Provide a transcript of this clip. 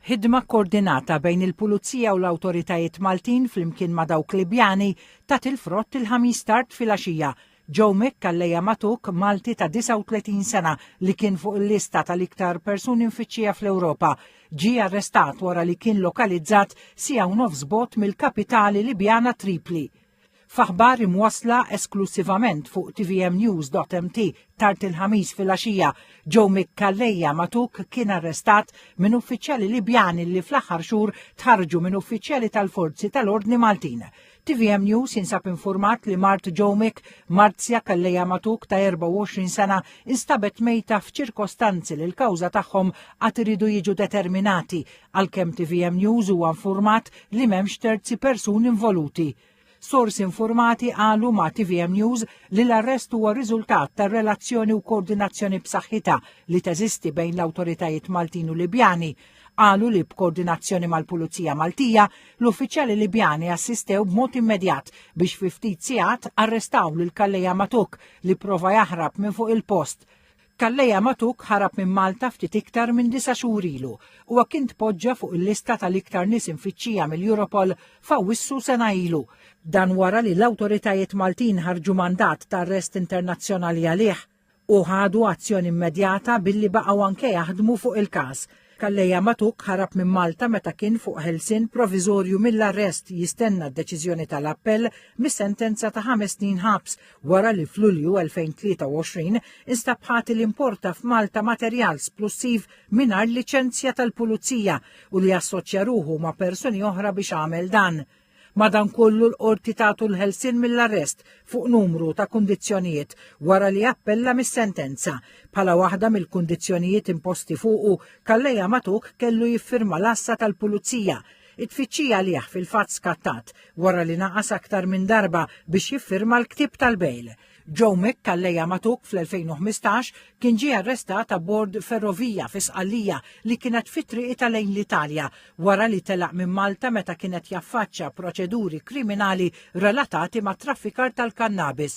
Ħidma kkoordinata bejn il-Pulizija u l-awtoritajiet Maltin flimkien ma' dawk Libjani tat il-frott il-Ħamis tard filgħaxija. Joe Mick allejja magħtug Malti ta' 39 sena li kien fuq il-lista tal-iktar persuni mfittxija fl-Ewropa, ġie arrestat wara li kien lokalizzat siegħa u nofs bogħod mill-kapitali Libjana Tripli. F'aħbar imwassla esklussivament fuq tvmnews.mt tard il-Ħamis filgħaxija, Joe Mick Calleja Matuk kien arrestat minn uffiċjali Libjani li fl-aħħar xhur tħarġu minn uffiċjali tal-forzi tal-ordni Maltin. TVM News jinsab informat li mart Joe Mick, Marzja Calleja Matuk ta' 24 sena, instabet mejta f'ċirkostanzi li l-kawża tagħhom għad iridu jiġu determinati għalkemm tvm News huwa infurmat li m'hemmx terzi persuni involuti. Sorsi infurmati qalu ma' tvm News li l-arrest huwa riżultat tar-relazzjoni u koordinazzjoni b'saħħitha li teżisti bejn l-awtoritajiet Maltin u Libjani. Qalu li b'koordinazzjoni mal-Pulizija Maltija, l-uffiċjali Libjani assistew b'mod immedjat biex fi ftit sigħat arrestaw lil Calleja Matuk li pprova jaħrab minn fuq il-post. Calleja Matuk ħarab minn Malta ftit iktar minn disa' xhur ilu. Huwa kien tpoġġa fuq il-lista tal-iktar nies imfittxija mill-Europol f'Awwissu sena ilu. Dan wara li l-awtoritajiet Maltin ħarġu mandat ta' arrest internazzjonali għalih u ħadu azzjoni immedjata billi baqgħu anke jaħdmu fuq il-każ. Calleja Matuk ħarab minn Malta meta kien fuq ħelsien proviżorju mill-arrest jistenna d-deċiżjoni tal-appell mis-sentenza ta' ħames snin ħabs wara li f'Lulju 2023 instab ħati li importa f'Malta materjal splussiv mingħajr liċenzja tal-pulizija u li assoċja ruħu ma' persuni oħra biex għamel dan. Madankollu l-Qorti tagħtu l-ħelsien mill-arrest fuq numru ta' kundizzjonijiet wara li appella mis-sentenza. Bħala waħda mill-kundizzjonijiet imposti fuqu, Calleja Matuk kellu jiffirma l-għassa tal-Pulizija. It-tfittxija għalih fil-fatt skattat wara li naqas aktar minn darba biex jiffirma l-ktieb tal-bejl. Joe Mick Calleja Matuk fl-2015 kien ġie arrestat abbord ferrovija fi Sqallija li kienet fi triqitha lejn l-Italja wara li telaq minn Malta meta kien qed jaffaċċja proċeduri kriminali relatati mat-traffikar tal-kannabis.